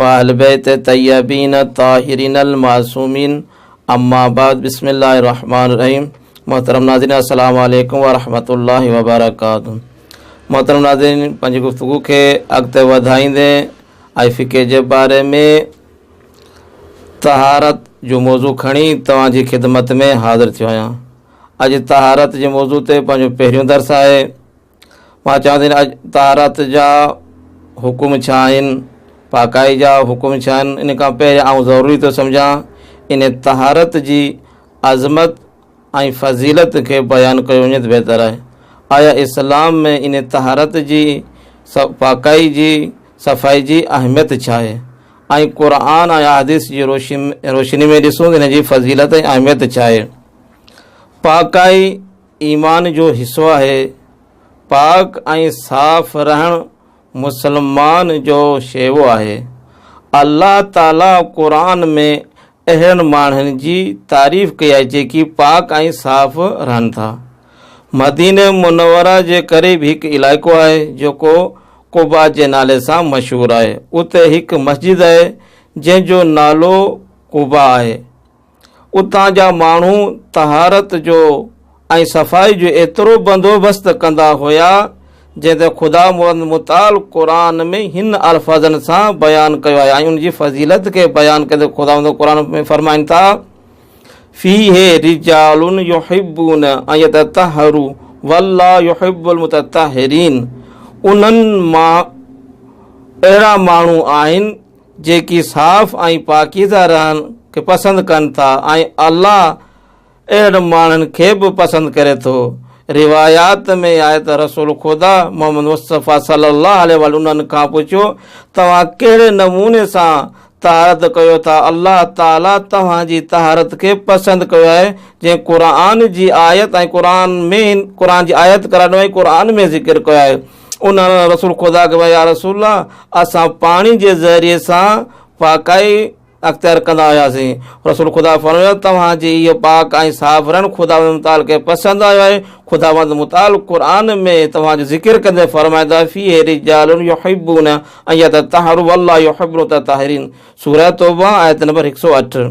واهلبيت طيبين الطاهرين المعصومين اما بعد بسم الله الرحمن الرحيم محترم ناظرين السلام عليكم ورحمة الله وبرڪاته محترم ناظرين پنهنجي گفتگو کي اڳتي وڌائيندي آء فقه جي باري ۾ طهارت جو موضوع کڻي توهان جي خدمت ۾ حاضر ٿيو آهيان اڄ طهارت جي موضوع تي پنهنجو پهريون درس آهي مان چوان ٿي اڄ طهارت جا حڪم ڇا آهن پاڪائي جا حڪم ڇا آهن ان کان پهريان آئون ضروري ٿو سمجهان ان طهارت جي عظمت ۽ فضيلت کي بيان ڪيو وڃي ته بهتر آهي آيا اسلام ۾ ان طهارت جي پاڪائي جي صفائي جي اهميت ڇا آهي ۽ قرآن ۽ حادث جي روشني روشني ۾ ڏسون ته ان جي فضيلت ۽ اهميت ڇا آهي پاڪائي ايمان جو حصو آهي، پاڪ ۽ صاف رهڻ مسلمان جو شيوو آهي، الله تعالي قرآن ۾ اهڙن ماڻهن جي تعريف ڪئي آهي جيڪي پاڪ ۽ صاف رهن ٿا، مدينه منوره جي قريب هڪ علائقو آهي جيڪو قباء جي نالي سان مشهور آهي، اتي هڪ مسجد آهي جنهن جو نالو قباء آهي. اتان جا ماڻهو طهارت جو ۽ صفائي جو ايترو بندوبست ڪندا هيا جنهن تي خداوند متعال قرآن ۾ هن الفاظن سان بيان ڪيو آهي ۽ ان جي فضيلت کي بيان ڪندي خداوند قرآن ۾ فرمائن ٿا فيه رجال يحبون ان يتطهروا والله يحب المتطهرين انهن مان اهڙا ماڻهو آهن جيڪي صاف ۽ پاڪيزه رهڻ کي پسند ڪن ٿا ۽ الله اهڙن ماڻهن کي به پسند ڪري ٿو. روايات ۾ آهي ته رسول خدا محمد مصطفيٰ صلّي اللّٰه عليه واٰله انهن کان پڇيو، توهان ڪهڙي نموني سان طهارت ڪيو ٿا؟ الله تعاليٰ توهان جي طهارت کي پسند ڪيو آهي، جيئن قرآن جي آيت ۽ قرآن ۾ قرآن جي آيت قرآن ۾ ذڪر ڪيو آهي. انهن رسول خدا کي يا رسول الله اسان پاڻي جي ذريعي سان پاڪائي اختيار ڪندا هياسين رسول خدا فرمايو توهان جي اهو پاڪ ۽ صاف رهڻ خداوند متعال کي پسند آيو آهي خداوند متعال قرآن ۾ توهان جو ذڪر ڪندي فرمائيندو آهي في رجال يحبون ان يتطهروا والله يحب المتطهرين سوره توبه آيت نمبر 108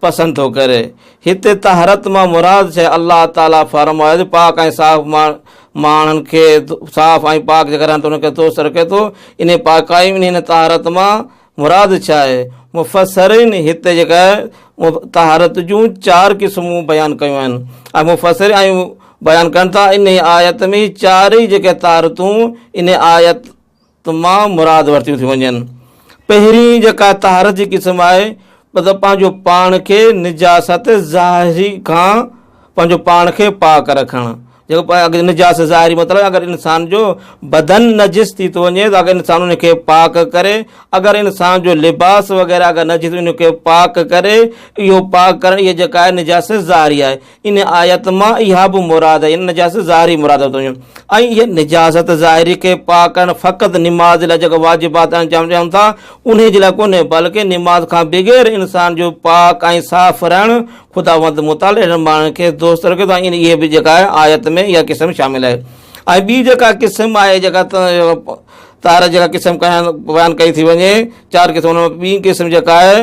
پسند ٿو ڪري. هتي طهرت مان مراد ڇا؟ الله تعالي فرمايو ته پاڪ ۽ صاف ماڻهن کي صاف ۽ پاڪ جيڪر آهن ته انهن کي دوست رکي ٿو. انهيء پاڪائي ۽ انهيء طهارت مان مراد ڇا آهي؟ مفسرين هتي جيڪا طهارت جون چار قسمون بيان ڪيون آهن ۽ مفسر ۽ بيان ڪن ٿا انهيء آيت ۾ چارئي جيڪي طهارتون انهيء آيت تمام مراد ورتيون ٿيون وڃن. پهرين جيڪا طهارت جي قسم آهي مطلب پنهنجو پاڻ کي نجاست ظاهري کان پنهنجو پاڻ کي پاڪ رکڻ جيڪو نجاست ظاهري مطلب اگر انسان جو بدن نجس ٿي ٿو وڃي ته اگر انسان ان کي پاڪ ڪري اگر انسان جو لباس وغيره اگر نجس ان کي پاڪ ڪري اهو پاڪ ڪرڻ اهي جيڪا نجاست ظاهري آهي ان آيت مان اها به مراد آهي ان نجاست ظاهري مراد ورتو وڃي ۽ هي نجاست ظاهري کي پاڪ ڪرڻ فقط نماز جي لاء جيڪا واجبات انجام ڏيون ٿا ان جي لاء ڪونهي بلڪه نماز کان بغير انسان جو پاڪ ۽ صاف رهڻ خداوند متعال اهڙن ماڻهن کي دوست رکي ٿو ۽ اهي به جيڪا آهي آيت ۾ اها قسم شامل آهي ۽ ٻي جيڪا قسم آهي جيڪا طاهر جيڪا قسم بيان ڪئي ٿي وڃي چار قسم ٻي قسم جيڪا آهي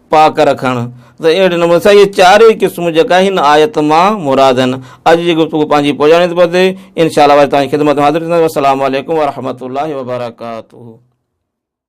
پاڪ رکڻ ته اهڙي نموني سان اهي چارئي قسم جيڪا هن آيت مان مراد آهن اڄ جي گفتگو پنهنجي پوڄاڻي تي پتي انشاءالله وري تان خدمت حاضر ٿينداسين السلام عليڪم ورحمة الله وبرڪاته